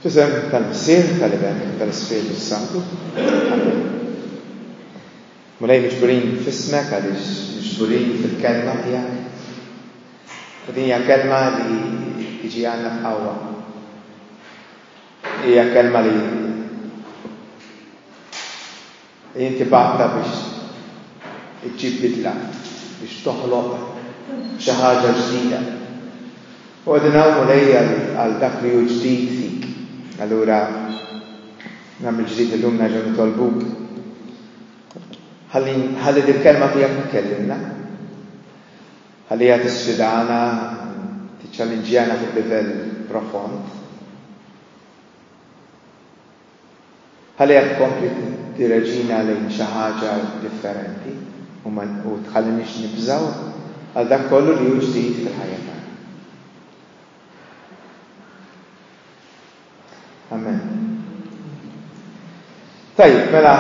F'isem tal-Missier, tal-Iben, u tal-Ispirtu s-Santu. Amen. Mulej miġburin f'ismek għaliex miġburin fil-kelma tiegħek. U din hija kelma li jiġi għandna f'qawwa. Hija kelma li Jien tibgħatha biex iġġib bidla, biex toħloq xi ħaġa ġdida. U qegħdin hawn, Mulej, għal dak li hu ġdid fik. Allura nhar mill-ġdid illum nerġgħu nitolbuk. Ħalli ħalli dil-kelma tiegħek tkellimna. Ħalli hija tisfidana, tiċċallinġjana fuq livell profond. Ħallejha tkompli tiddireġina lejn xi ħaġa differenti u ma tħallinix nibżgħu għal dak kollu li hu ġdid fil-ħajja tagħna. Amen. Tajjeb, mela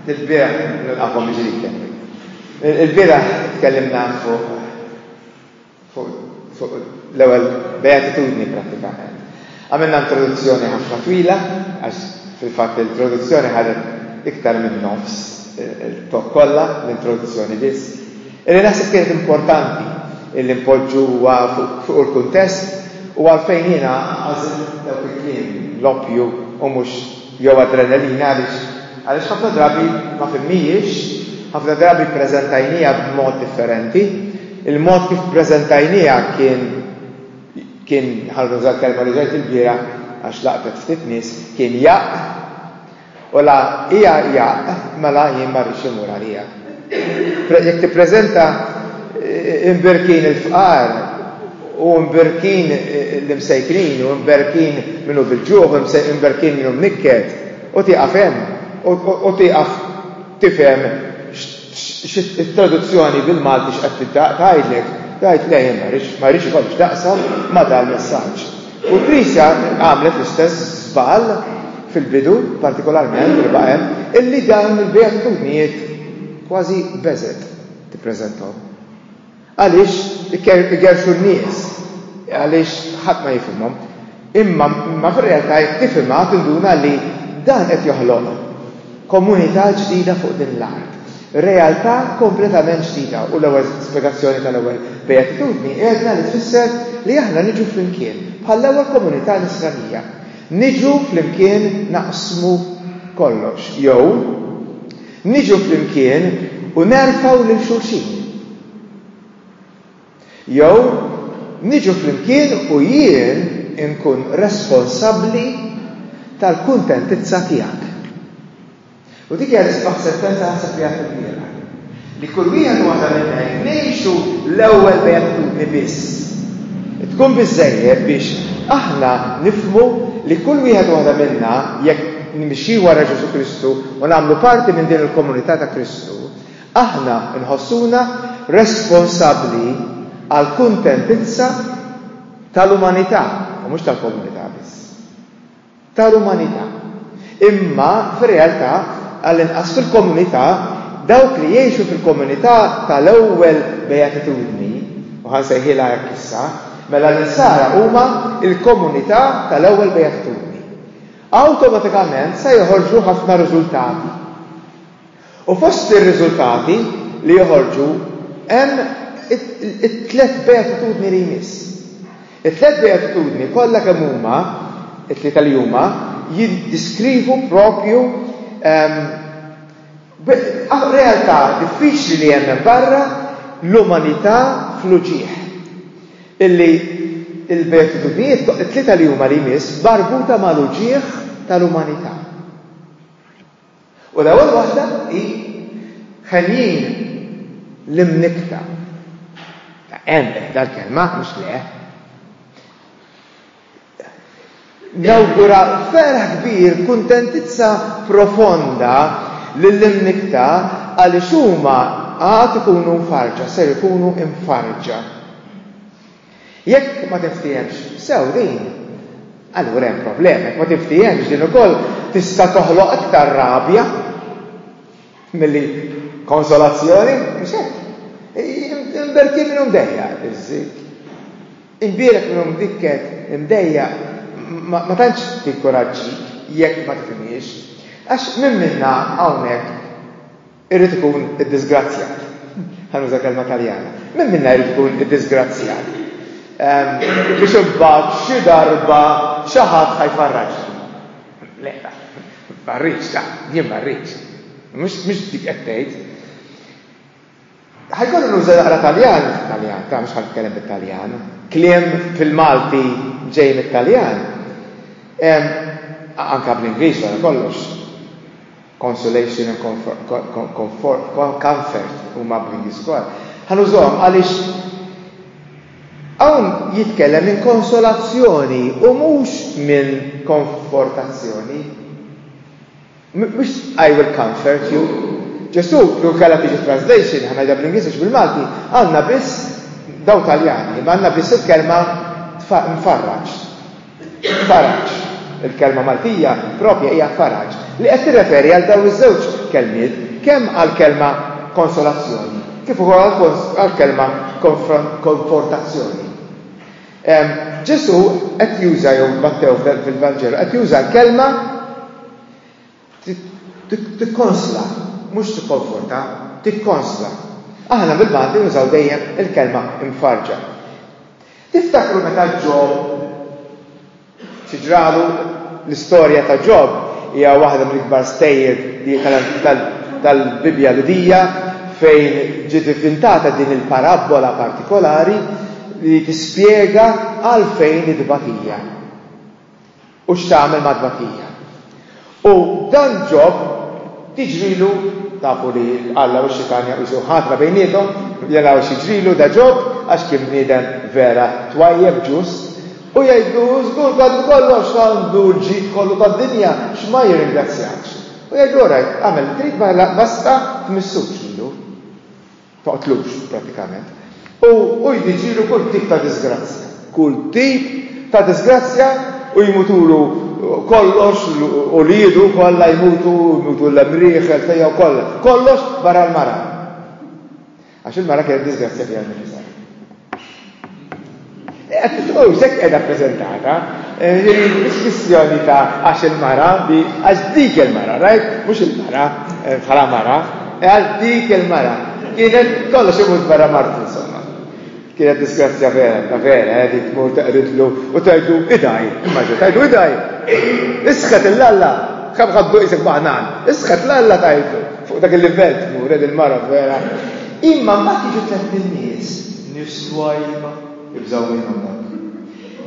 il-bieraħ nilqakom ġdid. Il-bieraħ tkellimna fuq fuq l-ewwel beatitudni prattikament. Għamilna introduzzjoni ħafna twila għax fil-fatt l-introduzzjoni ħadet iktar minn nofs il-tok kollha, l-introduzzjoni biss. Illi naħseb kienet importanti illi npoġġu huwa fuq il-kuntest u għalfejn jiena għażilt dawk il-kliem l-oppju u mhux jew adrenalina għaliex għaliex ħafna drabi ma fhimnihiex, ħafna drabi ppreżentajniha b'mod differenti. Il-mod kif ppreżentajniha kien kien ħalli nuża l-kelma li ġejt il-bieraħ għax laqtet ftit nies kien jaqq u la hija jaqq mela jien ma rridx immur għaliha. Jekk tippreżenta imbirkin il-fqar u imbirkin l-imsejknin u imbirkin min hu bil-ġuħ u imbirkin min hu mnikket u tieqaf hemm u tieqaf tifhem x'it-traduzzjoni bil-Malti x'qed tgħidlek, tgħid le jien ma rridx ikollok x'taqsam ma' dal-messaġġ. U l-Knisja għamlet l-istess żball fil-bidu, partikolarment li baqa' hemm, illi dawn il-beatitudnijiet kważi beżet tippreżentahom. Għaliex igerxu n-nies, għaliex ħadd ma jifhimhom. Imma ma fir-realtà jekk tifhimha tinduna li dan qed joħloq Komunità ġdida fuq din l-art. Realtà kompletament ġdida u l-ewwel spjegazzjoni tal-ewwel Beatitudni għedna li tfisser li aħna niġu flimkien bħall-ewwel komunità nisranija. Niġu flimkien naqsmu kollox jew niġu flimkien u nerfgħu lil xulxin. Jew niġu flimkien u jien inkun responsabbli tal-kuntentizza tiegħek. U dik hija l-isbaħ sentenza naħseb li għedt ilbieraħ. Li kull wieħed u waħda minna jekk ngħixu l-ewwel beatitudni biss, tkun biżżejjed biex aħna nifhmu li kull wieħed u waħda minna jekk nimxi wara Ġesù Kristu u nagħmlu parti minn din il-komunità ta' Kristu, Aħna nħossuna responsabbli għall-kuntentizza tal-umanità, u mhux tal-komunità biss. Tal-umanità. Imma, fir-realtà, għall-inqas fil-komunità, dawk li jgħixu fil-komunità tal-ewwel beatitudni, u ħa nsejħilha hekk issa, mela l-insara huma l-komunità tal-ewwel beatitudni. Awtomatikament se joħorġu ħafna riżultati. U fost ir-riżultati li joħorġu hemm it-tliet beatitudni li jmiss. It-tliet beatitudni kollha kemm huma, it-tlieta li huma, jiddiskrivu proprju realtà diffiċli li hemm hemm barra, l-umanità fl-uġigħ. Illi l-beatitudnijiet, it-tlieta li huma li jmiss, marbuta mal-uġigħ tal-umanità. U l-ewwel waħda hi ħenjin l-imnikkta. Hemm dal-kelma mhux le. Nawgura ferħ kbir, kuntentizza profonda lill-imnikkta għaliex huma għad ikunu mfarġa, ser ikunu mfarġa. Jekk ma tinftiehemx sew din, allura hemm problema. Jekk ma tinftiehemx din ukoll tista' toħloq aktar rabja milli konsolazzjoni, mhux hekk? Imberkin minn mdejja iż-żid. Imbierek minn mdikket imdejja ma tantx tinkuraġġik jekk ma tifhimhiex. Għax minn minna hawnhekk Irid ikun iddisgrazzjat. Ħa nuża kelma Taljana. Min minna jrid ikun iddisgrazzjat? Biex imbagħad xi darba xi ħadd ħajfarraġ. Le, ma rridx, jien ma rridx. Mhux dik qed tgħid. Ħajkollu nuża naqra Taljan, Taljan, ta' mhux ħatkellem bit-Taljan. Kliem fil-Malti ġej mit-Taljan. Anka bl-Ingliż wara kollox. consolation and comfort huma upbringing score, ħa nużahom għaliex hawn jitkellem minn konsolazzjoni u mhux minn konfortazzjoni. Mhux I will comfort you. Ġesu, jew kellha tiġi translation, ħa ngħidha bl-Ingliż għax bil-Malti, għandna biss daw Taljani, ma għandna biss il-kelma mfarraġ. Faraġ. Il-kelma Maltija proprja hija faraġ, li qed tirreferi għal dawn iż-żewġ kelmiet kemm għall-kelma konsolazzjoni kif ukoll għall-kelma konfortazzjoni. Ġesù qed juża jew Mattew fil-Vanġelu qed juża l-kelma Tikkonsla, mhux tikkonforta, tikkonsla. Aħna bil-Malti nużaw dejjem il-kelma imfarrġa. Tiftakru meta Ġob xi ġralu? L-istorja ta' Ġob hija waħda mill-ikbar stejjer tal-Bibbja Lhudija fejn ġiet ivvintata din il-parabbola partikolari li tispjega għalfejn it-tbatija. U x'tagħmel mat-tbatija. U dan Ġob tiġrilu, tafu li Alla u x-Xitan jaqbiżu ħatra bejniethom, jaraw x'jiġrilu da Ġob għax kien bniedem vera twajjeb, ġust, u jgħidlu, Żgur għandu kollox, għandu l-ġid kollu tad-dinja, x'ma jirringrazzjakx? U jgħidlu, Orajt, agħmel li trid, ma basta tmissux lilu. toqtlux prattikament. U hu jdiġilu kull tip ta' diżgrazzja. Kull tip ta' diżgrazzja u jmutulu kollox, uliedu kollha jmutu, jmutu l-emmrieħ, il-ħtejja u kollha. Kollox barra l-mara. Għax il-mara kienet diżgrazzja fiha nnifisha. U sekk edha prezentata, il-missjoni eh, ta' għax il-mara, għax dik il-mara, rajt? Mux il-mara, eh, bħala mara, eh, għax dik il-mara. Kienet kollox imut barra martu, insomma. Kienet disgrazzja vera, ta' vera, għedi tmur taqridlu u tajdu idaj, immaġu, tajdu idaj. Isħet il-lalla, kam ħaddu jisek baħnan, isħet l-alla tajdu, fuq dak il-livell tmur, il-mara vera. Imma mbagħad jiġu tlett in-nies, nies twajba, ibżgħu minnhom dawk.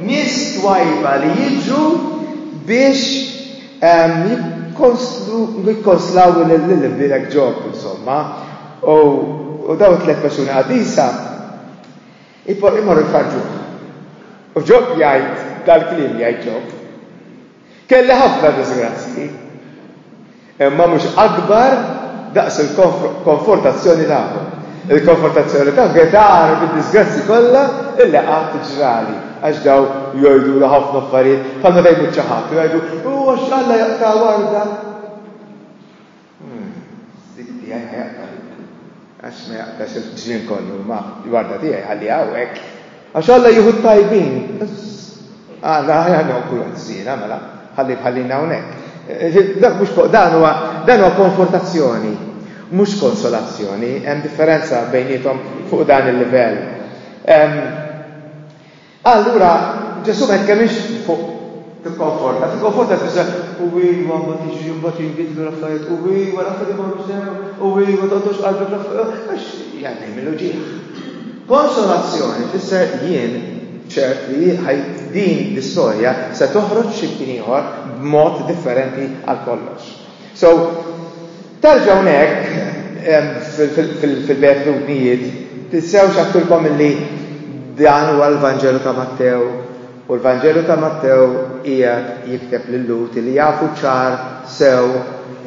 Nies twajba li jiġu biex ehm, jikkonslaw l-imbirek ġob, insomma, u daw tliet persuni għadisa, imorru jfarġuħ. U ġob jgħid dal-klim jgħid ġob. Kelli ħafna diżgrazzji, imma mhux akbar daqs il-konfortazzjoni tagħkom. Il-konfortazzjoni ta' Getar bid-diżgrazzji kollha illi qatt ġrali, għax daw jgħidulu ħafna affarijiet bħalma fejn mhux xi ħadd jgħidu huwa x'Alla jaqta' warda. Sid tiegħi ma jaqta' luk, għax ma jaqtax il-ġnien kollu, imma l-warda tiegħi jħalliha hawnhekk. Għax Alla jieħu t-tajbin. Għala għala noklu għaż-żiena, mela, ħalli bħallina hawnhekk. Dak mhux fuq dan huwa dan huwa konfortazzjoni, mhux konsolazzjoni, hemm differenza bejniethom fuq dan il-livell. Allura Ġesù ma jitkellmx fuq tikkonforta, tikkonforta tfisser u iva ma tiġi imbagħad jinbidlu l-affarijiet, u iva l-affarijiet imorru sew, u iva tgħoddux qalbek l-affarijiet, għax jgħaddi mill ġieħ. Konsolazzjoni tfisser jien ċert li din l-istorja se toħroġ xi ieħor b'mod differenti għal kollox. So, Terġa' hawnhekk fil-Bejgħet Lutnijiet, tinsewx għattilkom illi dan huwa l-Vanġelu ta' Mattew u l-Vanġelu ta' Mattew qiegħed jikteb lil Lhud illi jafu ċar sew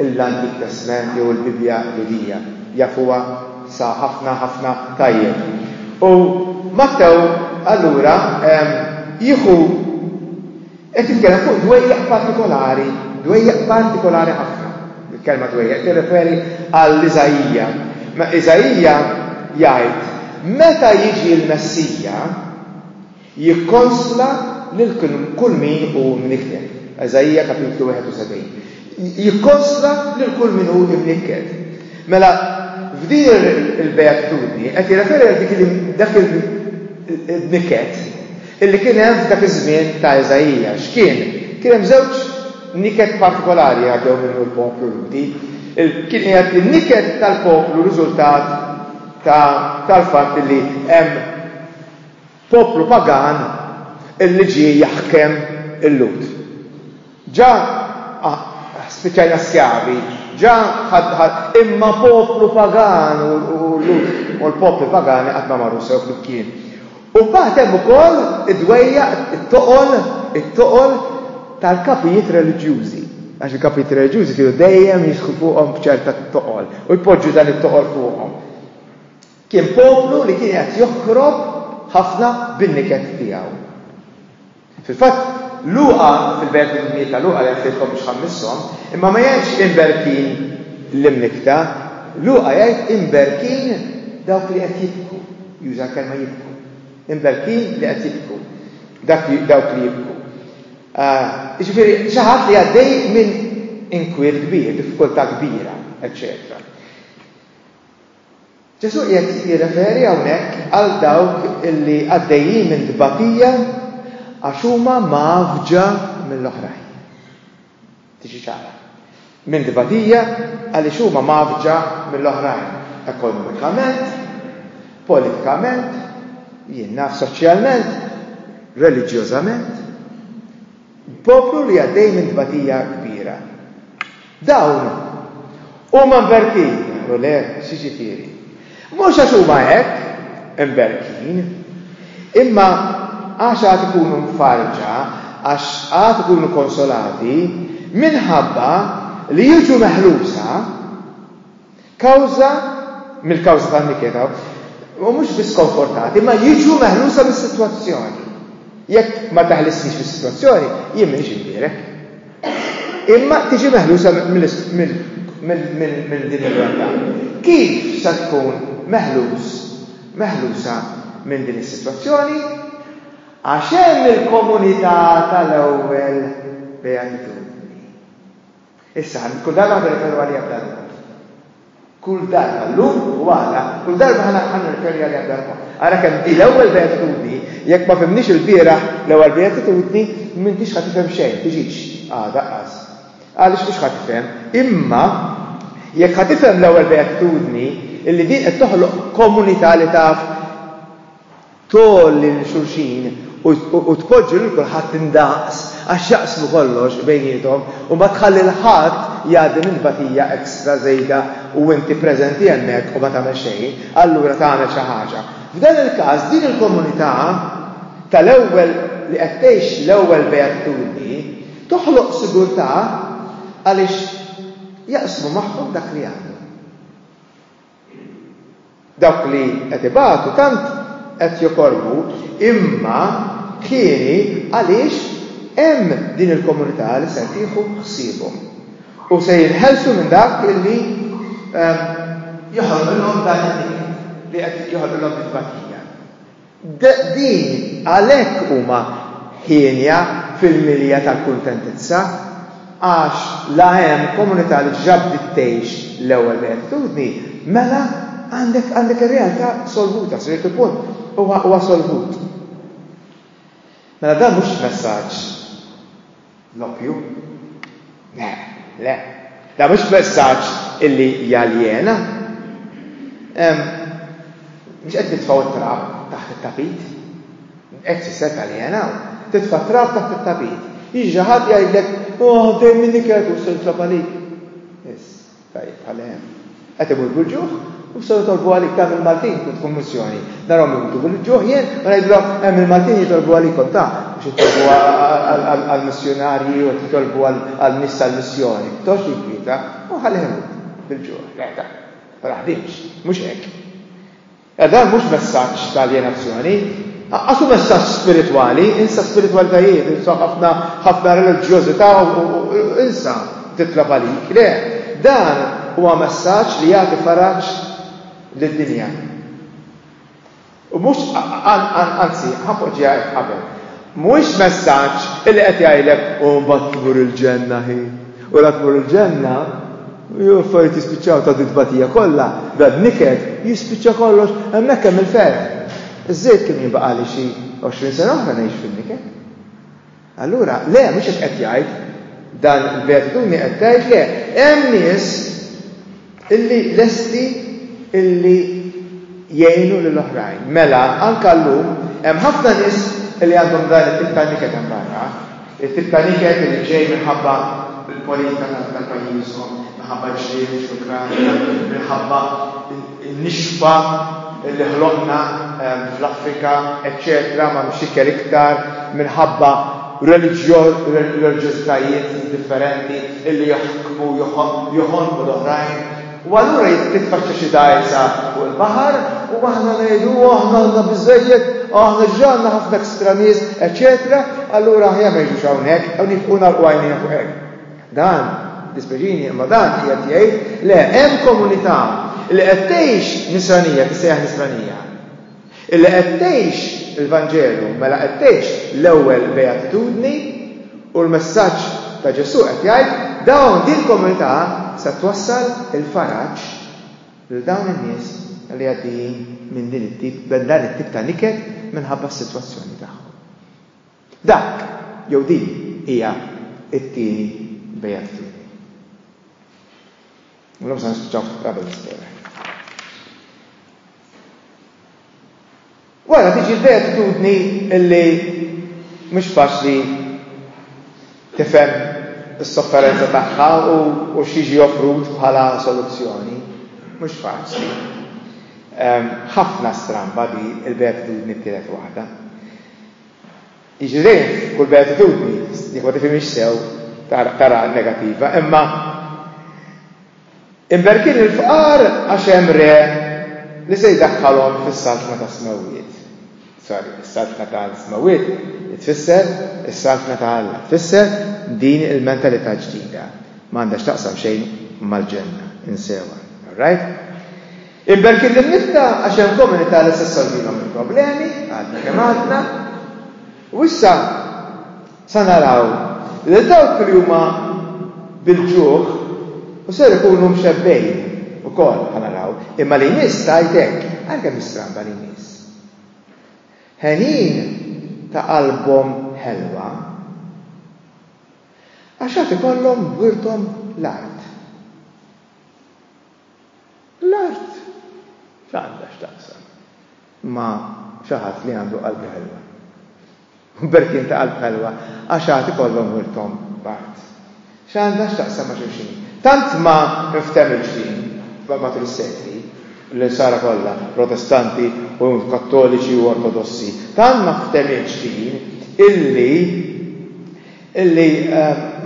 l-Antik Testment jew il-Bibbja Lhudija, jafuha sa ħafna ħafna tajjeb. U Mattew allura jieħu Qed jitkellem fuq dwejjaq partikolari, dwejjaq partikolari ħafna. Il-kelma dwejjaq tirreferi għal Iżaija. Ma Iżaija jgħid, meta jiġi l-Messija jikkonsla lil kull min hu mnikten. Iżaija kapitlu 71. Jikkonsla lil kull min hu imnikked. Mela, f'din il-beatitudni qed jirreferi għal dik li dak il-nikket illi kien hemm f'dak iż-żmien ta' Iżaija. X'kien? Kien hemm żewġ niket partikolari għaddew minnu l-poplu Ludi. Kien qiegħed in-niket tal-poplu riżultat tal-fatt li hemm Poplu pagan illi ġie jaħkem il-Lhud. Ġa spiċċajna skjavi, ġa imma poplu pagan u l-Lhud u l-popli pagani qatt ma marru sew flimkien. U mbagħad hemm ukoll id-dwejjaq, it-toqol, it-toqol tal-kapijiet reliġjużi. Għax il-kapijiet reliġjużi kienu dejjem jisħu fuqhom b'ċerta toqol u jpoġġu dan it-toqol fuqhom. Kien poplu li kien qed joħkrob ħafna bin-niket tiegħu. Fil-fatt, Luqa, fil-belt mill-Mieta Luqa jgħid lilkom biex ħammisshom, imma ma jgħidx imberkin l-imnikta, Luqa jgħid imberkin dawk li qed jibku, juża l-kelma jibku. Imberkin li qed jibku, dawk li jibku. Ah, jiġifieri xi ħadd li għaddej minn inkwiet kbir, diffikultà kbira, eċċetera. Ġesù qiegħed jirreferi hawnhekk għal dawk li għaddejjin minn tbatija għax huma mgħaffġa mill-oħrajn. Tiġi ċara. Minn tbatija għaliex huma mgħaffġa mill-oħrajn ekonomikament, politikament, jien naf soċjalment, reliġjożament. Poplu li għaddej minn tbatija kbira. Dawn huma mberkin, u le, x'jiġifieri? Mhux għax huma hekk mberkin, imma għax għad ikunu mfarrġa, għax għad ikunu konsolati minħabba li jiġu meħlusa, kawża mill-kawża tal-mikeda u mhux biss konfortati, ma jiġu meħlusa mis-sitwazzjoni. Jekk ma taħlisniex mis-sitwazzjoni, jien m'iniex imbierek. Imma tiġi meħlusa minn din ir-realtà. Kif se tkun meħlus meħlusa minn din is-sitwazzjoni? Għax hemm il-komunità tal-ewwel beatitudni. Issa, ħa kull darba ħa nirreferu għaliha b'dan il-mod. Kull darba, llum u għada, kull darba ħa ħa nirreferi għaliha b'dan il-mod. Ara kemm di l-ewwel beatitudni, jekk ma fimniex il-bieraħ l-ewwel beatitudni, m'intix ħa tifhem xejn, tiġix għada qas. Għaliex mhux ħa tifhem, imma jekk ħa tifhem l-ewwel beatitudni, illi din qed toħloq komunità li taf tgħolli lil xulxin u tpoġġi lil kulħadd indaqs għax jaqsmu kollox bejniethom u ma tħalli 'l ħadd jgħaddi minn tbatija extra żejda u inti preżenti hemmhekk u ma tagħmel xejn, allura tagħmel xi ħaġa. F'dan il-każ din il-komunità tal-ewwel li qed tgħix l-ewwel beatitudni toħloq sigurtà għaliex jaqsmu magħhom dak li għandhom. Dawk li qed ibatu tant qed jokorbu imma hieni għaliex hemm din il-komunità li se tieħu ħsiebhom u se jinħelsu minn dak li joħolqilhom dan it-tiket, li qed joħolqilhom it-tbatija. Din għalhekk huma hienja fil-milja tal-kuntentizza, għax la hemm komunità li diġà bdiet tgħix l-ewwel beatitudni, mela għandek għandek ir-realtà solvuta, sa ċertu punt huwa huwa solvut. Mela dan mhux messaġġ. L-oppju? Le, le. Da mhux messaġġ illi jaljena. Mhux qed nitfgħu t-trab taħt it-tapit. Hekk tfisser taljena. Titfa' trab taħt it-tapit. Jiġi ħadd jgħidlek, oh, dejjem minni kedu se nitlob għalik. Tajjeb, ħalli hemm. Qed imutu l-ġuħ, u bistgħu jitolbu għalik ta' mill-Maltin kont kummissjoni. Narhom imutu bil-ġuħ jien, u ngħidilhom hemm il-Maltin jitolbu għalikom ta' biex jitolbu għall-missjonarji u jitolbu għall-nies tal-missjoni. Tox jikwieta, u ħalli ħemut bil-ġuħ. Għeta, ma naħdimx, mhux hekk. E dan mhux messaġġ ta' aljenazzjoni. Aqqas hu messaġġ spiritwali, insa spiritwalitajiet, insa ħafna ħafna reliġjożità u insa titlob għalik. Le, dan huwa messaġġ li jagħti faraġġ lid-dinja. U mhux anzi, ħapoġġiha hekk qabel. Mhuwiex messaġġ li qed jgħidlek u mbagħad tmur il-ġenna ħin. U la tmur il-ġenna Jew affarijiet jispiċċaw ta' dit-tbatija kollha, dan niket, jispiċċa kollox, hemmhekk hemm il-ferħ. Iż-żejt kien jinbaqgħali xi għoxrin sena oħra ngħix fin-niket. Allura, le, mhux hekk qed jgħid. Dan il-beatitudni qed tgħid le, hemm nies illi lesti illi jgħinu lil oħrajn. Mela, anke llum, hemm ħafna nies illi għandhom dan it-tip ta' niket hemm barra. It-tip ta' niket irid ġej minħabba l-politika tal-pajjiżhom, minħabba l-ġlied fl-Ukranja, minħabba n-nixfa li ħloqna fl-Afrika, eċċetera M'hemmx ikel iktar minħabba reliġjożitajiet differenti li jaħkmu, joħonqu l-oħrajn. U allura jitfaxxa xi dgħajsa fuq il-baħar u aħna ngħidu u aħna għandna biżżejjed, aħna ġra għandna ħafna ekstra nies, eċetera, allura aħjar ma jiġux hawnhekk u nifqu nagħlqu għajnejna fuq hekk. Dan, dispeċini, imma dan qiegħed jgħid le hemm komunità li qed tgħix nisranija, tissejjaħ nisranija. Illi qed tgħix il-Vanġelu, mela qed tgħix l-ewwel beatitudni u l-messaġġ ta' Ġesù qed jgħid, dawn din il-komunità se twassal il-faraġ lil dawn in-nies li għaddejjin minn din it-tip, minn dan it-tip ta' niket minħabba s-sitwazzjoni tagħhom. Dak jew din hija t-tieni beatitudni. L-lum se nispiċċaw qabel nispera. Wara tiġi l-beatitudni illi mhux faċli tifhem is-sofferenza tagħha u x'jiġi offrut bħala soluzzjoni. Mhux faċli. Ehm, ħafna stramba li l-beatitudni t-tielet waħda. Jiġri kull beatitudni, jekk ma tifhimx sew, tara negattiva, imma Imberkin il-fqar għax hemm Re li se jdaħħalhom fis-Saltna tas-Smewwiet. Sorry, is-Saltna tal-Smewwiet tfisser is-Saltna ta' Alla, tfisser din il-mentalità ġdida. Ma għandha x'taqsam xejn mal-Ġenna, insewha. Alright? Imberkin lill-nifqa għax hemm komunità li se ssolvilhom il-problemi, għadna kemm għadna. U issa, Sa naraw lil dawk li huma bil-ġuħ u ser ikunu mxebbgħin ukoll bħal araw, imma li jmiss tgħid hekk, ara kemm hi stramba li jmiss. Ħenin ta' qalbhom ħelwa għax għad ikollhom wirthom l-art. L-art x'għandha x'taqsam ma' xi ħadd li għandu qalbi ħelwa. Berkin ta' qalb ħelwa, għax għad ikollhom wirthom b'art. X'għandha x'taqsam ma' xulxin? Tant ma nftemilx din, matul is-sekli, l-Insara kollha, Protestanti u Kattoliċi u Ortodossi, tant ma nftemilx din illi, Illi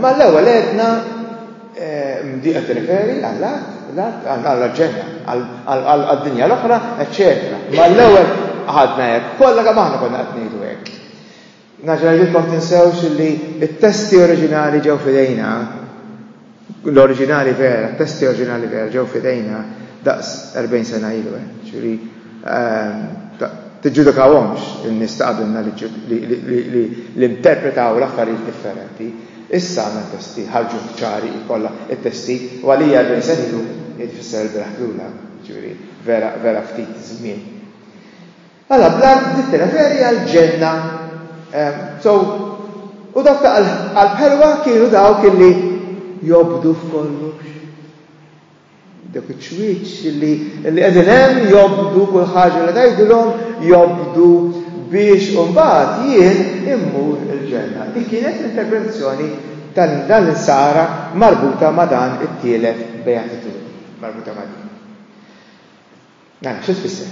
mal-ewwel għedna di qed tirreferi għall-art, għall-ġenna, għad-dinja l-oħra, eċċetera. Mal-ewwel ħadna hekk, kollha kemm aħna konna qed ngħidu hekk. Naġra jidkom tinsewx li t-testi oriġinali ġew fidejna L-oriġinali vera, t-testi oriġinali vera ġew f'idejna daqs 40 sena ilu, eh, ġifieri eh, tiġġudikawhomx in-nies ta' qabilna li interpretaw l-affarijiet differenti. Issa għandna testi ħarġu ċari kollha t-testi u għalija 40 sena ilu jfisser il-beraħ lula, ġifieri vera vera ftit żmien. Mela bl-art bdiet tirreferi għall-ġenna. So, u dawk ta' qalb ħelwa kienu dawk illi jobdu f'kollox. Dawk iċ-ċwieċ illi qegħdin hemm jobdu kull ħaġa li tgħidilhom jobdu biex imbagħad jien immur il-ġenna. Dik kienet l-interpretazzjoni tal dan l-insara marbuta ma' dan it-tielet beatitudni, marbuta ma' din. Mela, xi tfisser?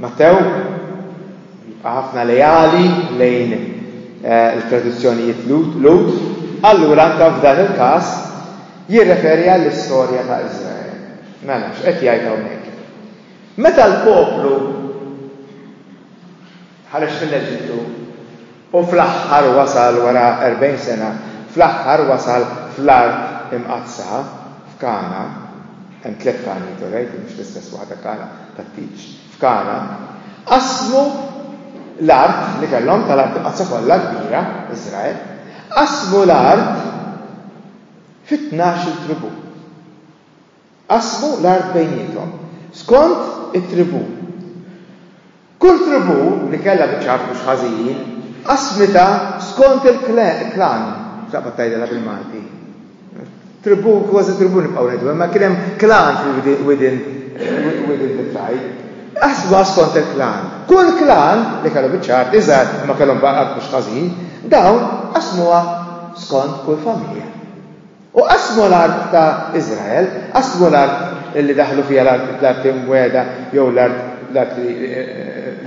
Mattew jibqa' ħafna leali lejn eh, il-tradizzjonijiet Lud, allura anke f'dan il-każ jirreferi għall-istorja ta' Iżrael. Mela, x'qed jgħid hawnhekk? Meta l-poplu ħareġ mill-Eġittu u fl-aħħar wasal wara erbgħin sena, fl-aħħar wasal fl-Art Imqaddsa, f'Kana, hemm tliet Kanijiet alright, mhux l-istess waħda Kana tat-tieġ, f'Kana, qasmu l-art li kellhom tal-Art Imqaddsa kollha kbira, Iżrael, qasmu l-art fit-tnax-il tribù. Qasmu l-art bejniethom skont it-tribù. Kull tribù li kellha biċċa art mhux ħażin, qasmitha skont il-klan, x'taqbad tgħidilha bil-Malti? Tribù, kważi tribù nibqgħu ngħidu, imma kien hemm klan fil-widien widien bit-trajb. Qasmuha skont il-klan. Kull klan li kellu biċċa art iżgħar imma kellhom art mhux ħażin, dawn qasmuha skont kull familja. U qasmu l-art ta' Iżrael, qasmu l-art li daħlu fiha l-art imwiegħda jew l-art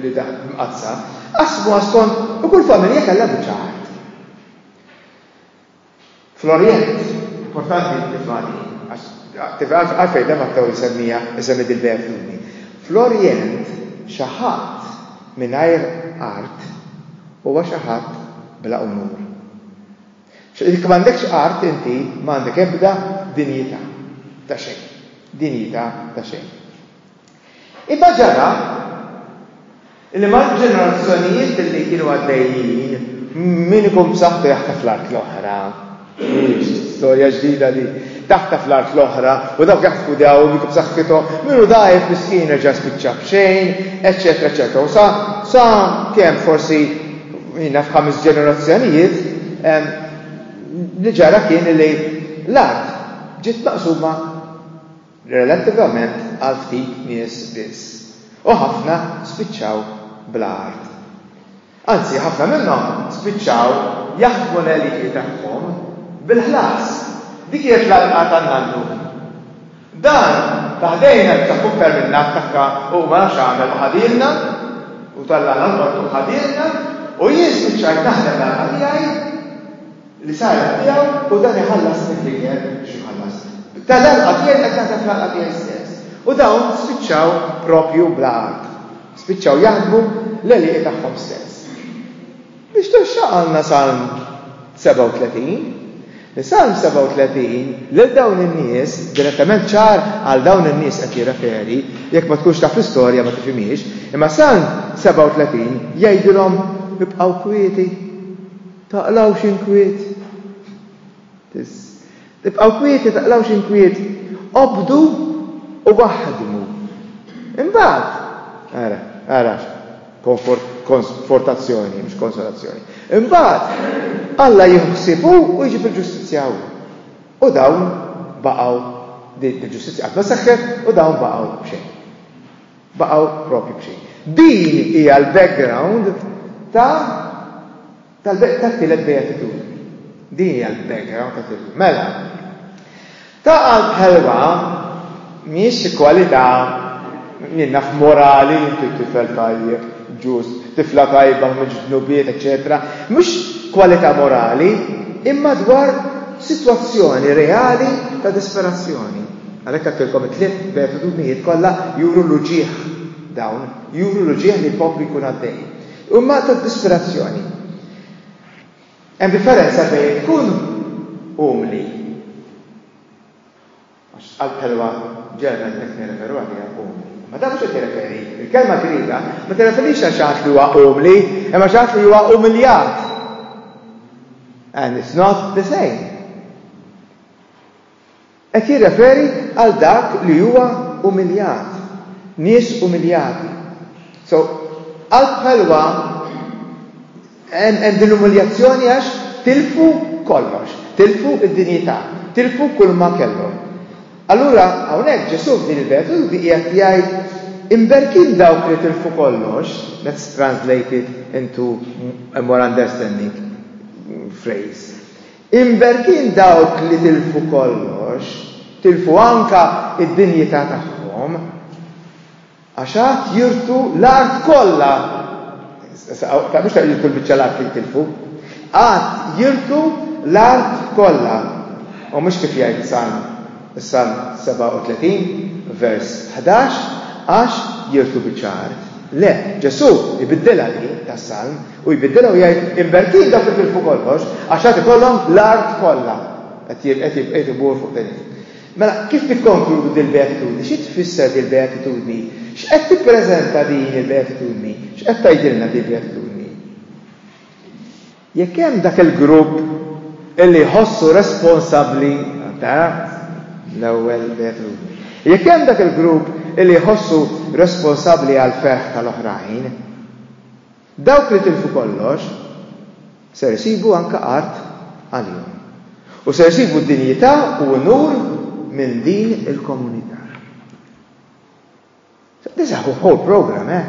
li mqaddsa, qasmuha skont u kull familja kellha biċċa art. Fl-Orjent, importanti l-tifani, għalfejn dan Mattew jisemmija jsemmi dil-bejgħ fl-uni. Fl-Orjent xi ħadd mingħajr art huwa xi ħadd bla unur. Jekk m'għandekx art inti ma għandek ebda dinjità ta' xejn. Dinjità ta' xejn. Imma ġara li mal-ġenerazzjonijiet li kienu għaddejjin min ikun b'saħħtu jaħtaf l-art l-oħra. Storja ġdida li taħtaf l-art l-oħra u dawk jaħtfu daw dik b'saħħithom minnu dgħajf miskin reġa' spiċċa b'xejn, eċċetera, eċċetera. U sa sa kemm forsi Jina f'ħames ġenerazzjonijiet li ġara kien li l-art ġiet maqsuma relativament għal ftit nies biss. U ħafna spiċċaw bla art. Anzi, ħafna minnhom spiċċaw jaħdmu l-eliti tagħhom bil-ħlas. Dik hija l-qalqa tan-nannu. Dan ta' ħdejna li ta' fuq kellilna attakka u ma nafx għamel u ħadielna u tallana l-qortu u ħadielna u jien spiċċajt naħdem l-għana tiegħi li saret tiegħu u dan iħallasni fl-ikel biex iħallasni. Tal-għalqa tiegħi qed naħdem fl-għalqa tiegħi stess. U dawn spiċċaw propju bla art. Spiċċaw jaħdmu l-għelieqi tagħhom stess. Biex tressaqalna Salm 37, li Salm 37 lil dawn in-nies, direttament ċar għal dawn in-nies qed jirreferi, jekk ma tkunx taf l-istorja ma tifhimiex, imma Salm 37 jgħidilhom ibqgħu kwieti, taqlgħux inkwiet. Biss. Ibqgħu kwieti, taqlgħux inkwiet, obdu u aħdmu. Imbagħad, ara, ara x'konfortazzjoni, mhux konsolazzjoni. Imbagħad, Alla jieħu ħsieb hu u jġib il-ġustizzja hu. U dawn baqgħu din il-ġustizzja qatt ma seħħet u dawn baqgħu b'xejn. Baqgħu propju b'xejn. Din hija l-background ta' Tal-beg tat-tielet beatitudni. Din hija l-background ta' Tillu. Mela, ta' qalb ħelwa mhijiex xi kwalità li naf morali, inti tifel tajjeb, ġust, tifla tajba u mhux dnubiet, eċċetera. Mhux kwalità morali, imma dwar sitwazzjoni reali ta' disperazzjoni. Għalhekk għedtilkom it-tliet beatitudnijiet kollha juru l-uġigħ dawn, juru l-uġigħ li jkompli jkun għaddej. Huma ta' disperazzjoni. Hemm differenza bejn tkun umli. Għax qalb ħelwa Ġerman qed nirreferu għaliha umli. Ma dan mhux qed jirreferi. Il-kelma Griega ma tirreferix għal xi li huwa umli, imma xi li huwa umiljat. And it's not the same. Qed jirreferi għal dak li huwa umiljat, nies umiljati. So, qalb ħelwa hemm din l-umiljazzjoni għax tilfu kollox, tilfu d-dinjità, tilfu kull ma kellhom. Allura hawnhekk Ġesù f'din il-beatitudni qiegħed jgħid imberkin dawk li tilfu kollox, that's translated into a more understanding phrase. Imberkin dawk li tilfu kollox, tilfu anke d-dinjità tagħhom, għax għad jirtu l-art kollha, mhux ta' jirtu l-biċċa l-art li jitilfu, għad jirtu l-art kollha, u mhux kif jgħid is-Salm, is-Salm 37, vers 11, għax jirtu biċċa art. Le, Ġesù ibiddilha din tas-Salm, U jbiddilha u jgħid, Imberkin dawk li tilfu kollox, għax għad ikollhom l-art kollha. Qed ibur fuq din. Mela, kif nikkonkludu din il-beatitudni? Xi tfisser din il-beatitudni? X'qed tippreżenta din il-beatitudni? X'qed tgħidilna din il-beatitudni? Jekk hemm dak il-grupp illi jħossu responsabbli ta' l-ewwel beatitudni. Jekk hemm dak il-grupp illi jħossu responsabbli għal ferħ tal-oħrajn, Dawk li tilfu kollox ser isibu anke art għalihom, u ser isibu dinjità u unur minn din il-komunità. This is a whole program, eh?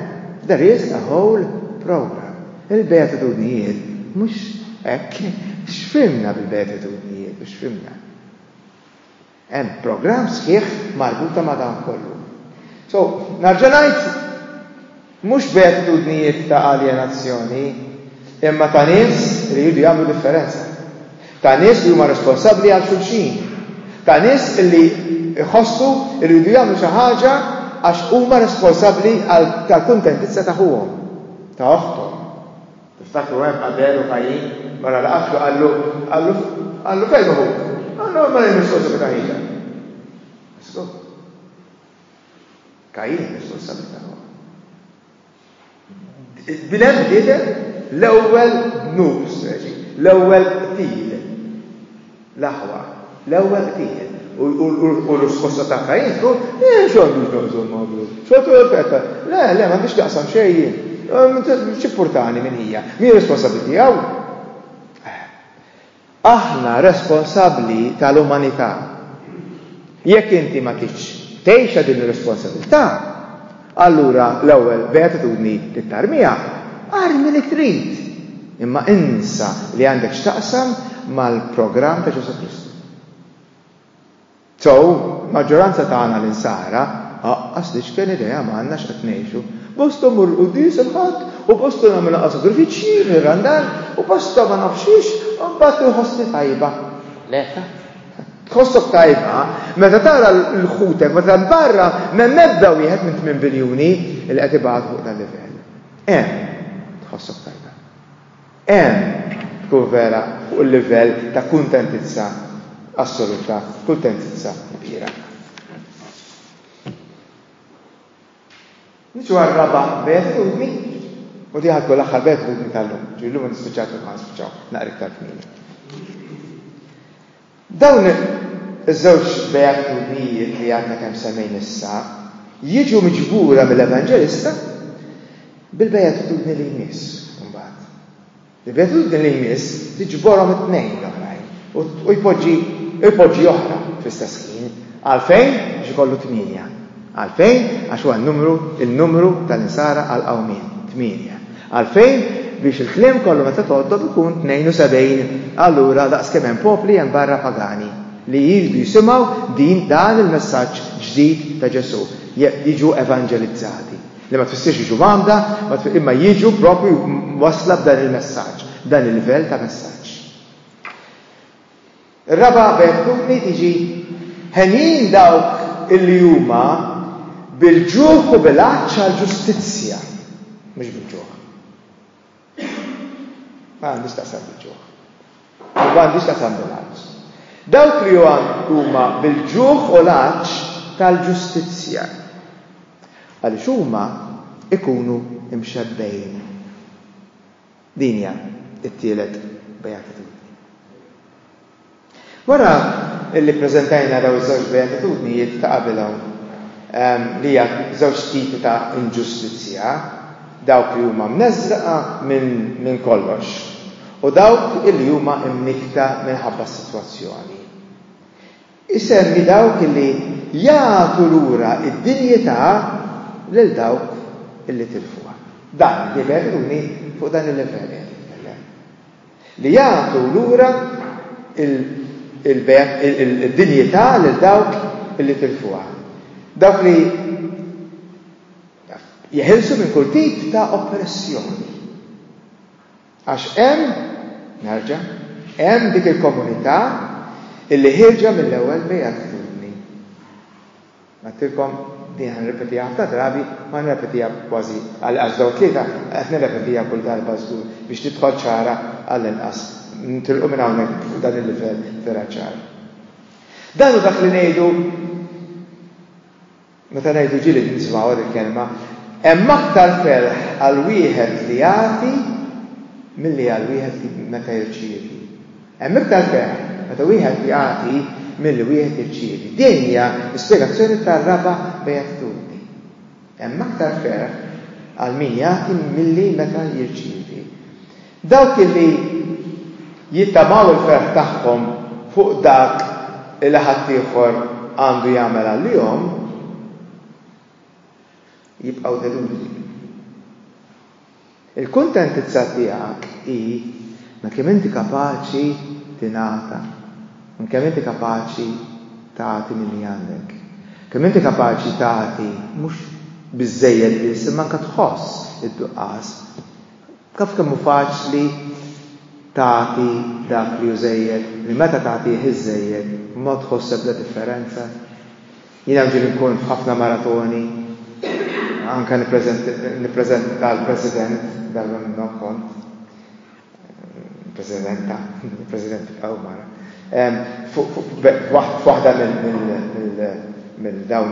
There is a whole program. Il-beatitudnijiet mhux hekk x'fhimna bil-beatitudnijiet, mhux fimna. Hemm programm sħiħ marbuta ma' dan kollu. So, nerġa' ngħid, mhux b'attitudnijiet ta' aljenazzjoni, imma ta' nies li jridu jagħmlu differenza. Ta' nies li huma responsabbli għal xulxin. Ta' nies li jħossu li jridu jagħmlu xi ħaġa għax huma responsabbli tal-kuntentizza ta' ħuhom, ta' oħthom. Tiftakru hemm Abel u Kajjin wara li qatlu qallu, qallu, qallu fejn hu ħuk? Qallu hemm barra r-responsabilità hija. Issu. Kajjin responsabilità hu. Bilem bniedem l-ewwel dnub, l-ewwel qtil. L-aħwa, l-ewwel qtil u r-risposta ta' Kajin tkun, eh, x'għandux naqsam ma' Abel? X'għandu l-fetta? Le, le, m'għandix taqsam xejn jien. X'importani min hija? Mhi responsabbli tiegħu? Aħna responsabbli tal-umanità. Jekk inti ma tridx tgħixha din ir-responsabilità, Allura l-ewwel beatitudni tit-tarmija, armi li trid, imma insa li għandek x'taqsam mal-programm ta' Ġesù Kristu. Sew, maġġoranza tagħna l-insara, aqqas l-iċken idea m'għandna x'qed ngħixu. Bosta mmur il-quddies il-Ħadd u bosta nagħmel anqas sagrifiċċji, nirrandal, u bosta ma nafx xiex, u mbagħad inħossni tajba. Le, Tħossok tajba meta tara l ħutek meta hemm barra m'hemm ebda wieħed minn tmien biljuni li qed ibatu fuq dan livell. Hemm tħossok tajba. Hemm tkun vera fuq il-livell ta' kuntentizza assoluta, kuntentizza kbira. Niġu għar-raba' beatitudni, u di ħad l-aħħar beatitudni tal-lum, ġifieri llum nispiċċaw kif ħanspiċċaw naqra iktar kmieni. Dawn iż-żewġ beatitudnijiet li għadna kemm semmejn issa jiġu miġbura mill-Evanġelista bil-beatitudni li jmiss imbagħad. Il-gratitudni li jmiss tiġborhom it-tnejn l-oħrajn u jpoġġi u jpoġġi oħra fl-istess ħin. Għalfejn? Biex ikollu tmienja. Għalfejn? Għax huwa n-numru, il-numru tal-insara għall-qawmien, tmienja. Għalfejn? Biex il-kliem kollu meta tgħoddhom ikun tnejn u sebgħin. Allura daqs kemm hemm popli hemm barra pagani li jridu jisimgħu din dan il-messaġġ ġdid ta' Ġesù, jiġu evanġelizzati. Li ma tfissirx jiġu mgħammda, imma jiġu propju wasla b'dan il-messaġġ, dan il-livell ta' messaġġ. Ir-raba' vertuni tiġi ħenjin dawk illi huma bil-ġuħ u bil-għatx għall-ġustizzja, mhux bil-ġuħ. Ma għandix taqsam bil-ġuħ. U ma għandix taqsam bil-għadġ. Dawk li huma bil-ġuħ u l-għadġ tal-ġustizzja. Għaliex huma ikunu imxebbejn. Dinja it-tielet beatitudni. Wara li ppreżentajna dawn iż-żewġ beatitudnijiet ta' qabel hawn, li hija żewġ tipi ta' inġustizzja, dawk li huma mneżżqa minn kollox u dawk li huma mnikkta minħabba s-sitwazzjoni, isemmi dawk li jagħtu lura d-dinjità lil dawk li tilfuha. Dan, il-beatitudni fuq dan il-livell qiegħed jitkellem. li jagħtu lura d-dinjità lil dawk li tilfuha, dawk li jeħilsu minn kull tip ta' oppressjoni. Għax hemm, nerġa', hemm dik il-komunità illi ħirġa mill-ewwel bejgħat Għedtilkom, din ħa nirrepetiha ħafna drabi, u ħa nirrepetiha kważi għall-inqas f'dawn it-tlieta, qed nirrepetiha kull darba żgur, biex tidħol ċara għall-inqas, nitilqu minn hawnhekk fuq dan il-livell vera ċar. Dan hu dak li ngħidu meta ngħidu ġieli nisimgħuha din il-kelma, hemm aktar ferħ għal wieħed li jagħti milli għal wieħed li meta jirċievi. Hemm iktar ferħ meta wieħed jagħti milli wieħed jirċievi. Din hija l-ispjegazzjoni tar-raba' bejatitudni. Hemm aktar ferħ għal min jagħti milli meta jirċievi. Dawk li jittamaw il-ferħ tagħhom fuq dak li ħaddieħor għandu jagħmel għalihom jibqgħu delużi. Il-kuntentizza tiegħek hi minn kemm inti kapaċi tingħata, minn kemm inti kapaċi tagħti minn li għandek. Kemm inti kapaċi tagħti mhux biżżejjed biss imma anke tħoss id-duqqas. Taf kemm hu faċli tagħti dak li hu żejjed, li meta tagħtih iż-żejjed ma tħoss ebda differenza? Jiena nġieli nkun f'ħafna maratoni, anke nippreżenta l-President, darba minnhom kont, Presidenta, President Aw Mara, f'waħda minn dawn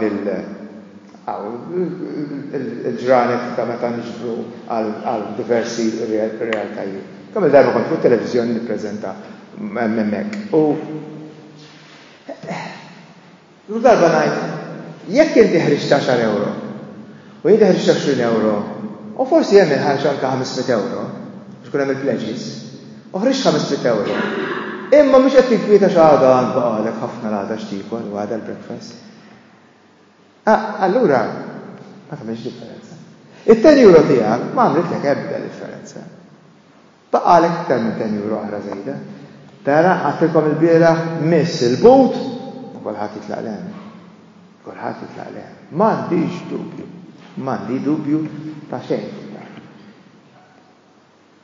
il-ġranet ta' meta niġbru għal diversi realtajiet. Kemm-il darba kont fuq it-televiżjoni nippreżenta hemmhekk. Kull darba ngħid, jekk inti ħriġt għaxar ewro u inti ħriġt għoxrin ewro u forsi hemm il-ħarġ anke ħames mitt ewro biex ikun hemm il-pledges, u ħriġt ħames mitt ewro, imma mhux qed tinkwieta x'għada għand baqgħalek ħafna l-għada x'tiekol u għada l-breakfast. Allura ma tagħmilx differenza. It-ten euro tiegħek ma għamlitlek ebda differenza. Baqgħalek iktar minn ten euro oħra żejda. Tara, għattilkom il-bieraħ miss il-but u kulħadd jitlaq lehem. Kulħadd jitlaq lehem. M'għandix dubju. M'għandi dubju ta' xejn.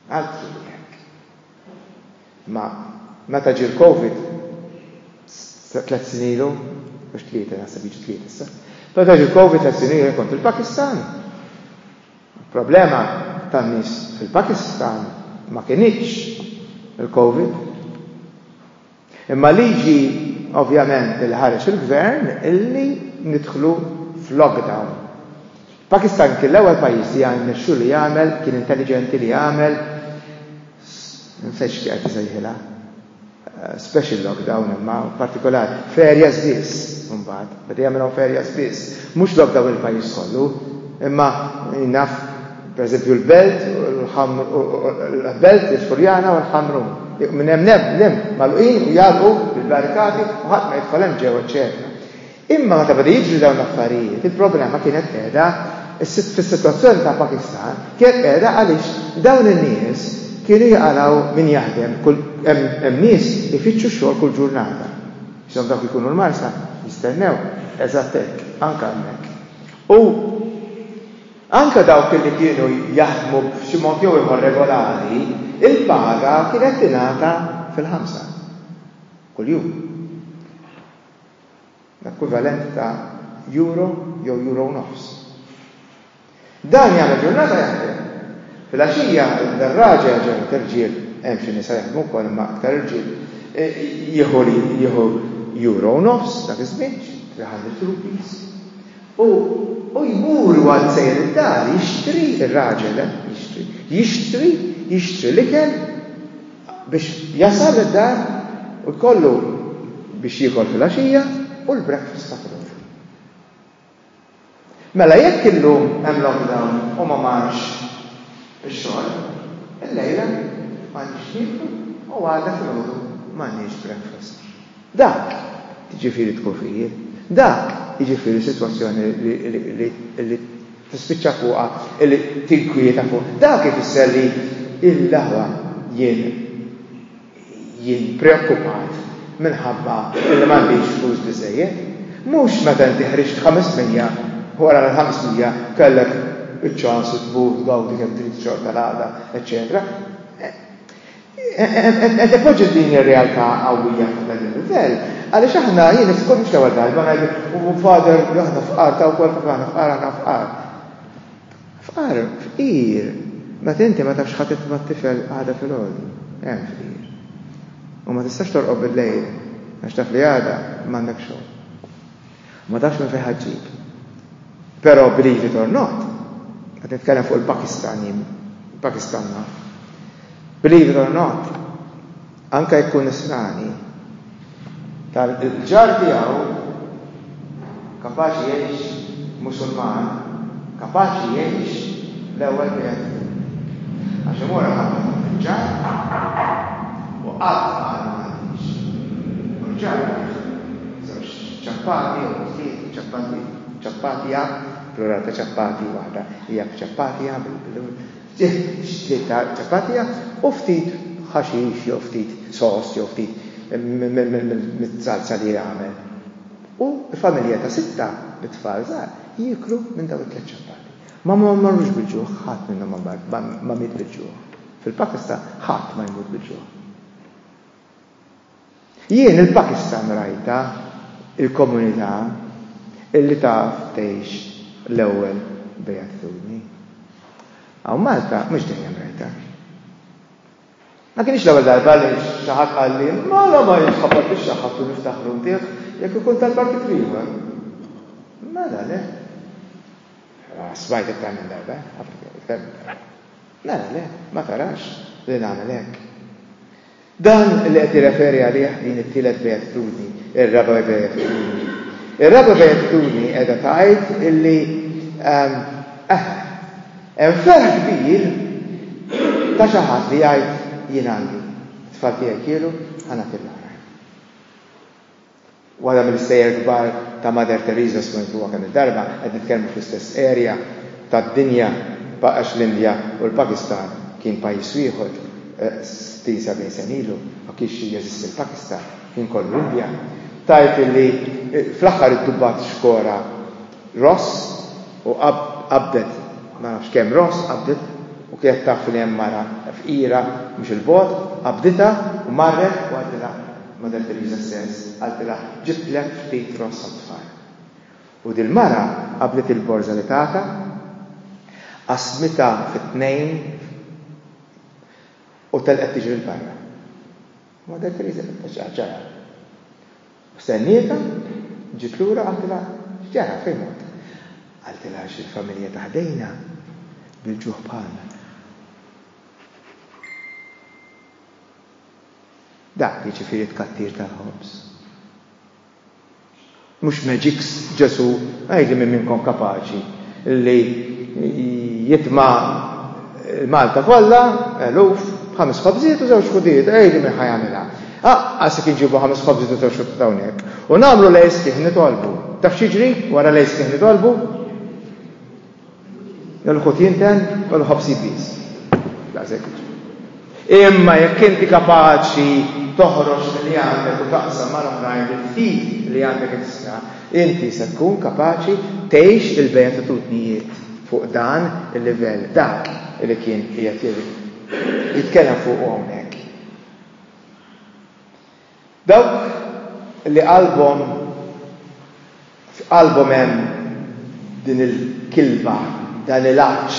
Altru jekk. Ma meta ġie l-Covid, tliet sinilu, mhux tlieta, naħseb jiġi tlieta issa. Meta ġie l-Covid tliet sinilu kont il-Pakistan. Il-problema tan-nies fil-Pakistan ma kinitx il-Covid. Imma l-liġi ovvjament li ħareġ il-Gvern illi nidħlu f'lockdown. Il-Pakistan kien l-ewwel pajjiż li rnexxu li jagħmel, kien intelliġenti li jagħmel, insejtx kif qed isejħilha. special lockdown imma partikolari, f'areas biss imbagħad, meta jagħmilhom f'areas biss, mhux lockdown il-pajjiż kollu, imma naf pereżempju l-Belt l-Belt il-Furjana u l-Ħamrun, minn hemm l-hemm magħluqin u jagħlqu bil-barrikati u ħadd ma jidħol hemm ġew eċċetera. Imma meta beda jiġri dawn l-affarijiet, il-problema kienet qiegħda fis-sitwazzjoni tal-Pakistan, kienet qiegħda għaliex dawn in-nies kienu jaqalgħu min jaħdem, hemm nies ifittxu xogħol kull ġurnata. X'inhom dawk ikunu l-marsa, jistennew, eżatt hekk, anke hemmhekk. U anke dawk li kienu jaħdmu b'xi mod jew ieħor regolari, il-paga kienet tingħata fil-ħamsa, kuljum. l-ekwivalent ta' Euro jew Euro u nofs. Dan jagħmel ġurnata jaħdem. Filgħaxija l-garraġja ġew irġiel, hemm xi nisa jaħdmu wkoll imma aktar irġiel, e, jieħu li jieħu Euro u nofs dak iż-żmien, 300 rupees. U u jmur għal sejr id-dar jixtri ir-raġel, eh, jixtri, jixtri, jixtri l-ikel biex jasal id-dar u jkollu biex jiekol fil-għaxija u l-breakfast ta' filgħodu. Mela jekk illum hemm lockdown u ma marx ix-xogħol, illejla m'għandix nieku u għada filgħodu m'għandix breakfast. Dak, jiġifieri d-dkufijiet, dak, jiġifieri sitwazzjoni li tispiċċa fuqha li tinkwieta fuq, dak ifisser li l-aħwa jien jien preokkupat minħabba li m'għandix flus biżżejjed. Mhux meta inti ħriġt ħames mija u wara l-ħames mija kellek iċ-ċans tmur tgawdi kemm trid ix-xorta l-għada, eċċetera. Qed ipoġġi din ir-realtà qawwija fuq dan il-livell, għaliex aħna jien iskur mhux l-ewwel darba ngħid u fader aħna fqar ta' wkoll fuq aħna fqar aħna fqar. Fqar, fqir, meta inti ma tafx ħadd ma' tifel għada fil-għodi, hemm fqir. U ma tistax torqob bil-lejl għax taf li għada m'għandek xogħol. U ma tafx minn fejn ħa ġġib. Però believe it or not, qed nitkellem fuq il-Pakistan jien, il-Pakistan naf. Believe it or not, anke jekk ikun nisrani, tal-ġar tiegħu kapaċi jgħix Musulman, kapaċi jgħix l-ewwel wieħed. Għax imur ħafna ġar u qatt ma għandix. U l-ġar Ċappati jew ħsiet u ċappati, ċappatija, plural ta' ċappati, waħda hija b'ċappatija, ftit xtliet ta' ċappatija u ftit ħaxix jew ftit sos jew ftit miż-żalza li jagħmel. U familja ta' sitta bit-tfal żgħar jieklu minn dawn it-tliet ċappati. Ma marrux bil-ġuħ, ħadd minnhom ma miet bil-ġuħ. Fil-Pakistan ħadd ma jmut bil-ġuħ. Jien il-Pakistan rajtha, il-komunità illi taf tgħix l-ewwel beatitudni. Hawn Malta mhux dejjem rajtha. Ma kienx l-ewwel darba li xi ħadd qalli mala ma jitħabbat ix-xaħħab u niftaħru ntiegħ jekk ikun tal-partit l-ieħor. Mela le. Smajt iktar minn darba, iktar minn darba. Mela le, ma tarax li nagħmel hekk. Dan li qed jirreferi għalih din it-tielet beatitudni, ir-raba' beatitudni. Ir-raba' beatitudni qiegħda tgħid illi ehm, eh, hemm ferħ kbir ta' xi ħadd li jgħid jien għandi tfal tiegħi kielu ħanat il Waħda mill-istejjer kbar ta' Mother Teresa smentuha kemm-il darba, qed nitkellmu fl-istess area tad-dinja b'għax l-Indja u l-Pakistan kien pajjiż wieħed 60, 70 sena ilu, ma kienx jeżisti l-Pakistan, kien kollu Indja, tgħid li fl-aħħar iddubbat xkora ross u qabdet ma nafx kemm ross qabdet u kienet taf li hemm mara fqira mhux 'il bogħod, qabditha u marret u għadilha. Mother Teresa says, qaltilha, ġibtlek ftit ross għat-tfal. U dil-mara qabdet il-borża li tatha, qasmitha fi tnejn u telqet tiġri 'l barra. Mother Teresa fittex x'ġara. U stennietha, ġiet lura qaltilha, x'ġara fejn mort? Qaltilha għax il-familja ta' ħdejna bil-ġuħ bħalna. Dak jiġifieri t-tkattir tal-ħobż. Mhux magics Ġesù għidli min minnkom kapaċi li jitma' l-Malta kollha, eluf, b'ħames ħobżiet u żewġ ħudiet, għidli min ħa jagħmilha. Aqqas jekk inġibu ħames ħobżiet u żewġ ħudiet hawnhekk u nagħmlu l-għeż kif nitolbu. Taf x'jiġri wara l-għeż kif nitolbu? Nagħmlu ħutien ten, nagħmlu ħobs ibbies. Daqshekk jiġri. Imma jekk inti kapaċi toħroġ li għandek u taqsam mal oħrajn il-ftit li għandek ekstra, inti se tkun kapaċi tgħix il-beatitudnijiet fuq dan il-livell dak li kien qiegħed jitkellem fuq hawnhekk. Dawk li qalbhom f'qalbhom hemm din il-kilba, dan il-għatx,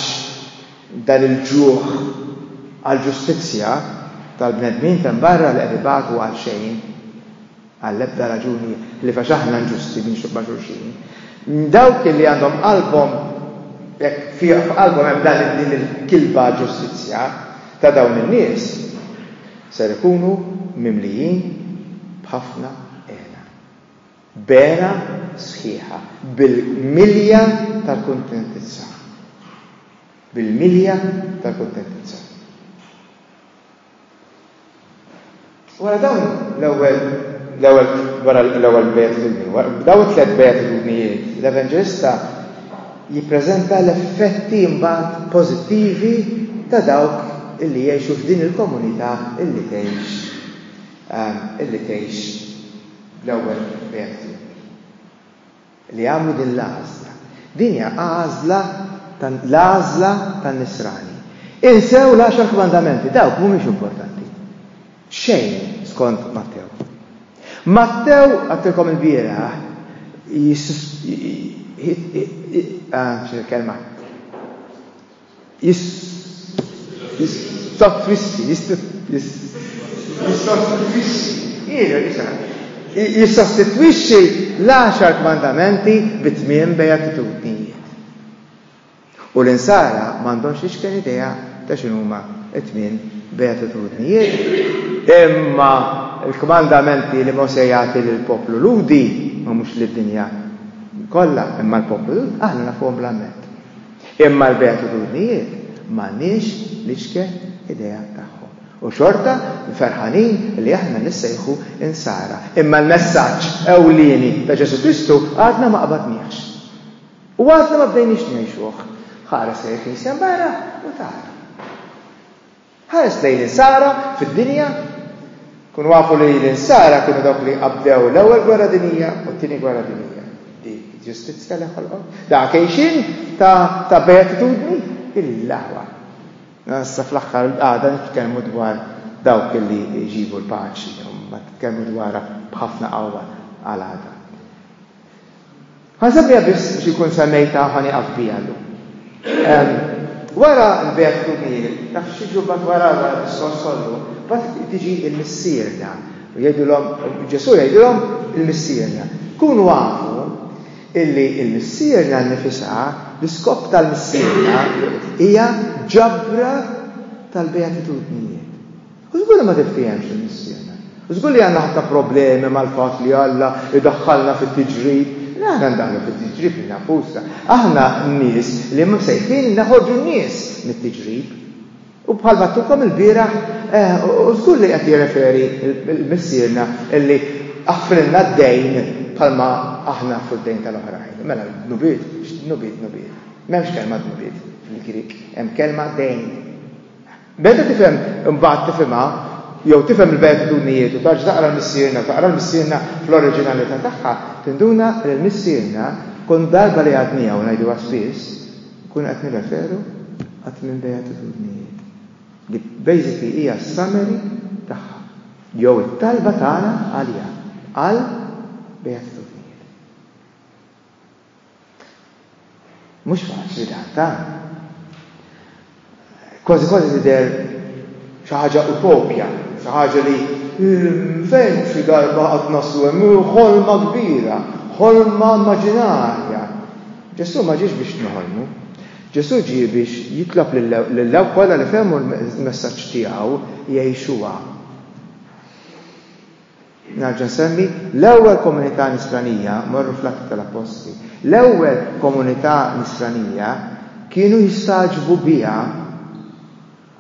dan il-ġuħ għall-ġustizzja tal-bnedmin t'hemm barra li qed ibatu għal xejn, għall-ebda raġuni ħlief għax aħna inġusti ma' xulxin. Dawk li għandhom qalbhom f'qalbhom hemm din il-kilba għall-ġustizzja ta' dawn in-nies, Ser ikunu mimlijin b'ħafna hena. Bera sħiħa, bil-milja tal-kuntentizza. Bil-milja tal-kuntentizza. Wara dawn l-ewwel l-ewwel wara l-ewwel beatitudni, b'dawn it-tliet beatitudnijiet, l-Evanġelista jippreżenta l-effetti mbagħad pożittivi ta' dawk illi jgħixu f'din il-komunità illi tgħix illi tgħix bl-ewwel reati li għamlu din l-għażla. Din hija għażla l-għażla tan-nisrani. Insew l-għaxar kmandamenti, dawk mhumiex importanti. Xejn, skont Mattew. Mattew, għattilkom il-bieraħ, kelma, jistotwissi, jistotwissi, jissostitwixxi l-għaxar kmandamenti bi tmien bejatitudnijiet. U l-Insara ma għandhomx l-iċken idea ta' x'inhuma t-tmien beatitudnijiet. Imma l-kmandamenti li Mosè jagħti lill-poplu Lhudi, ma mhux lid-dinja kollha, imma l-poplu Lhudi, aħna nafuhom bla mend. Imma l-beatitudnijiet m'għandniex l-iċken idea tagħhom. U xorta ferħanin li aħna nissejħu Insara. Imma l-messaġġ ewlieni ta' Ġesù Kristu għadna ma qabadniehx. U għadna ma bdejniex ngħixuh. Ħares lejn il-Knisja mbagħra u tara. Ħares lejn l-insara fid-dinja. Kunu għafu li l-insara kienu dawk li qabdew l-ewwel gwerra dinija u t-tieni gwerra dinija. Di ġustizzja li ħolqhom. Da kejxin ta' ta' beatitudni il-laħwa. Nassa fl-aħħar għada nitkellmu dwar dawk li jġibu l-paċi, ma titkellmu dwarha b'ħafna qawwa għal għada. Ħansemmiha biss biex ikun semmejta ħa nieqaf biha llum. Wara l-bejgħ tumiel, taf x'jiġu mbagħad wara wara diskors kollu, bat tiġi l-missierna. U jgħidulhom, Ġesù jgħidulhom il-missierna. Kunu għafu illi il-missierna nnifisha, l-iskop tal-missierna hija ġabra tal-beatitudnijiet. U żgur li ma tiftiehemx il-missiema. Żgur li għandna ħafna problemi mal-fatt li Alla idaħħalna fit-tiġrib. Le aħna ndaħlu fit-tiġrib lil nafusna. Aħna nies li msejħin naħorġu n-nies mit-tiġrib. U bħal battukom il-bieraħ, eh, u żgur li qed jirreferi l-missierna illi aħfrilna d-dejn bħalma aħna fuq d-dejn tal-oħrajn. Mela, nubiet, nubiet, nubiet. M'hemmx kelma nubiet fil-Grik, hemm kelma dejn. Meta tifhem imbagħad tifhimha jew tifhem il-beatitudnijiet u tarġa' taqra l-Missierna u taqra l-Missierna fl-oriġinalità tagħha, tinduna li l-Missierna kull darba li għadniha u ngħiduha spiss, nkunu qed nirreferu għat-tmien beatitudnijiet, li basically hija s-summary tagħha jew it-talba tagħna għaliha għal beatitudnijiet. Mhux faċli dan ta. Kważi kważi tidher xi ħaġa utopja, xi ħaġa li hmm, fejn xi darba qatt naslu hemm ħolma kbira, ħolma immaġinarja. Ġesù ma ġiex biex nħolmu. Ġesù ġie biex jitlob lill-lew kollha li fehmu l-messaġġ tiegħu jgħixuha. Nerġa' nsemmi, l-ewwel komunità Nisranija, morru fl-Atti tal-Appostli, l-ewwel komunità Nisranija kienu jistagħġbu biha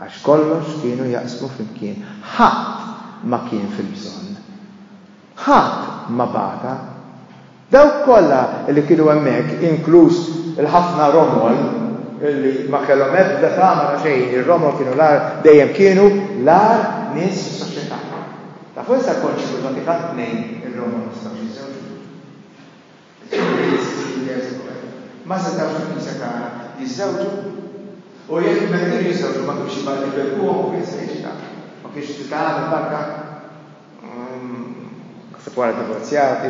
għax kollox kienu jaqsmu flimkien. Ħadd ma kien fil-bżonn. Ħadd ma bata. Dawk kollha li kienu hemmhekk, inkluż il-ħafna romol, li ma kellhom ebda tama ta' xejn, ir-romol kienu l-agħar, dejjem kienu l-agħar nies fis-soċjetà. Tafu issa l-Konċil tal-Vatikan ii, ir-romol ma setgħux jiżżewġu. Ma setgħux fil-Knisja tagħna jiżżewġu. U jekk meta kienu jiżżewġu ma kienx jibgħat lil ħuhom u kien se jiġi taf. Ma kienx se tagħmel barka. Naħseb wara divorzjati,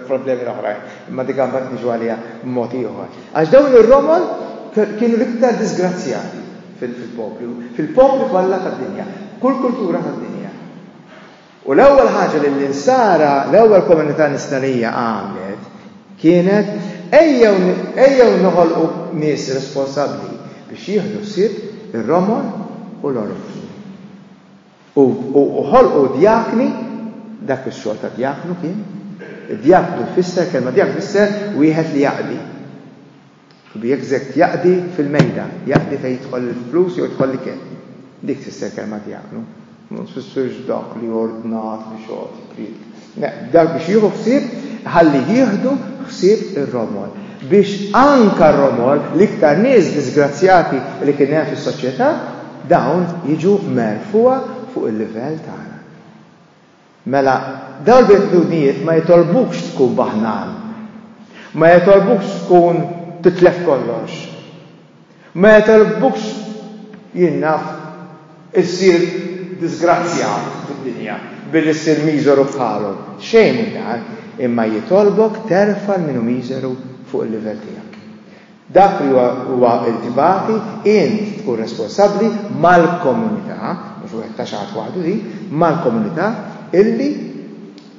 problemi l-oħrajn, imma dik għambat niġu għalija mod ieħor. Għax dawn ir-romol kienu l-iktar disgrazzjati fil-poplu, fil-poplu kollha tad-dinja, kull kultura tad-dinja. U l-ewwel ħaġa li l-insara, l-ewwel komunità nistarija għamlet kienet ejjew noħolqu nies responsabbli biex jieħdu sib ir-romol u l-orfni. U ħolqu djakni, dak ix-xogħol ta' djaknu kien, id-djaknu jfisser, kelma djaknu tfisser wieħed li jaqdi. B'jekk jaqdi fil-mejda, jaqdi fejn jidħol il-flus jew jidħol l-ikel. Dik tfisser kelma djaknu. Ma tfissirx dak li ordnat biex jogħti pried. Dak biex jieħu ħsieb, ħalli jieħdu ħsieb ir-romol. Biex anke r-romol, l-iktar nies diżgrazzjati li kien hemm fis-soċjetà, dawn jiġu merfugħa fuq il-livell tagħna. Mela, dawn il-beatitudnijiet ma jitolbukx tkun baħnan. Ma jitolbukx tkun titlef kollox. Meta l-kbux jinnaħ, issir diżgrazzjat fid-dinja billi ssir miżeru bħalhom. Xejn minn dan, imma jitolbok terfa' lil min hu miżeru fuq il-livell tiegħek. Dak li huwa ntbati, int tkun responsabbli mal-komunità, mhux wieħed ta' xagħat waħdu hi, mal-komunità illi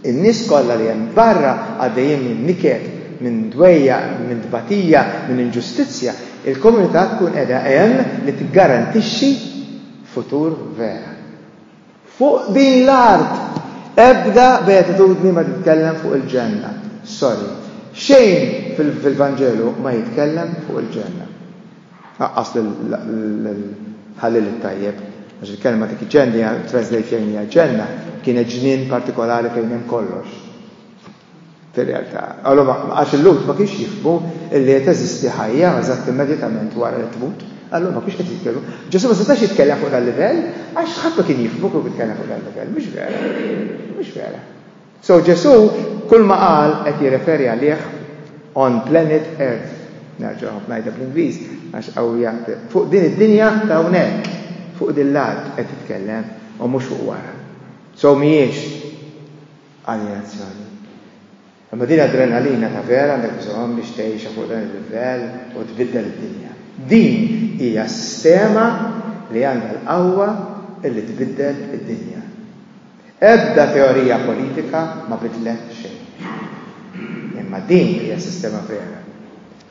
In-nies kollha li hemm barra għaddejjin minn niket, minn dwejjaq, minn tbatija, minn inġustizzja, il-komunità tkun qiegħda hemm li tiggarantixxi futur vera. Fuq din l-art! Ebda beatitudni ma titkellem fuq il-Ġenna. Sorry. Xejn fil-Vanġelu ma jitkellem fuq il-Ġenna. Għaqqas lill-Ħalliel it-Tajjeb, għax il-kelma dik ġennia, translate fejn hija ġenna, kienet ġnien partikolari fejn hemm kollox. Fir-realtà. Allura għax il-Lhud ma kienx jifhmu li qed teżisti ħajja eżatt immedjatament wara li tmut, allura ma kienx qed jitkellmu. Ġesu ma setax jitkellem fuq dal-livell għax ħadd ma kien jifhmu kieku jitkellem fuq dal-livell, mhux vera. Mhux vera. So Ġesù kulma qal qed jirreferi għalih on planet earth, nerġa' ngħidha bl-Ingliż għax qawwija, fuq din id-dinja ta' hawnhekk, fuq din l-art qed jitkellem u mhux fuq wara. So mhijiex aljenazzjoni. Imma din adrenalina ta' vera għandek bżonn biex tgħixha fuq dan il-livell u tbiddel id-dinja. Din hija sistema li għandha l-qawwa li tbiddel id-dinja. Ebda teorija politika ma bidlet xejn. Imma din hija sistema vera,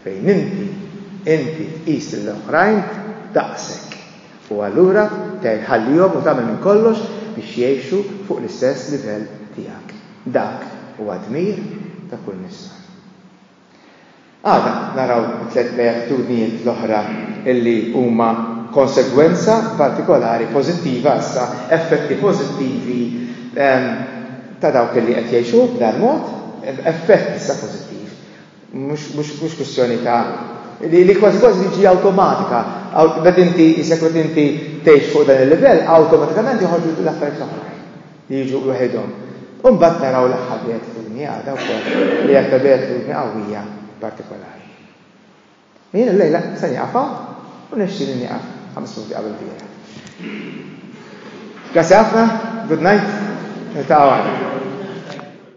fejn inti, inti tqis lil oħrajn daqsek, u allura tgħin tħallihom u tagħmel minn kollox biex jgħixu fuq l-istess livell tiegħek. Dak huwa dmir ta' kull Missar. Għada naraw it-tliet reattunijiet l-oħra illi huma konsegwenza partikolari pożittiva issa, effetti pożittivi ta' dawk illi qed jgħixu b'dan mod, effett issa pożittiv. Mhux kwistjoni ta' li li kważi kważi jiġi awtomatika, meta inti isek meta inti tgħix fuq dan il-livell, awtomatikament joħorġu l-affarijiet l-oħrajn. li jiġu waħedhom. U mbagħad naraw l-aħħar beatitudni għada wkoll li hija ta' beatitudni qawwija partikolari. U jien illejla se nieqaf hawn u nixtieq li nieqaf ħames minuti qabel biera. Grazzi ħafna, good night, niltaqgħu għada.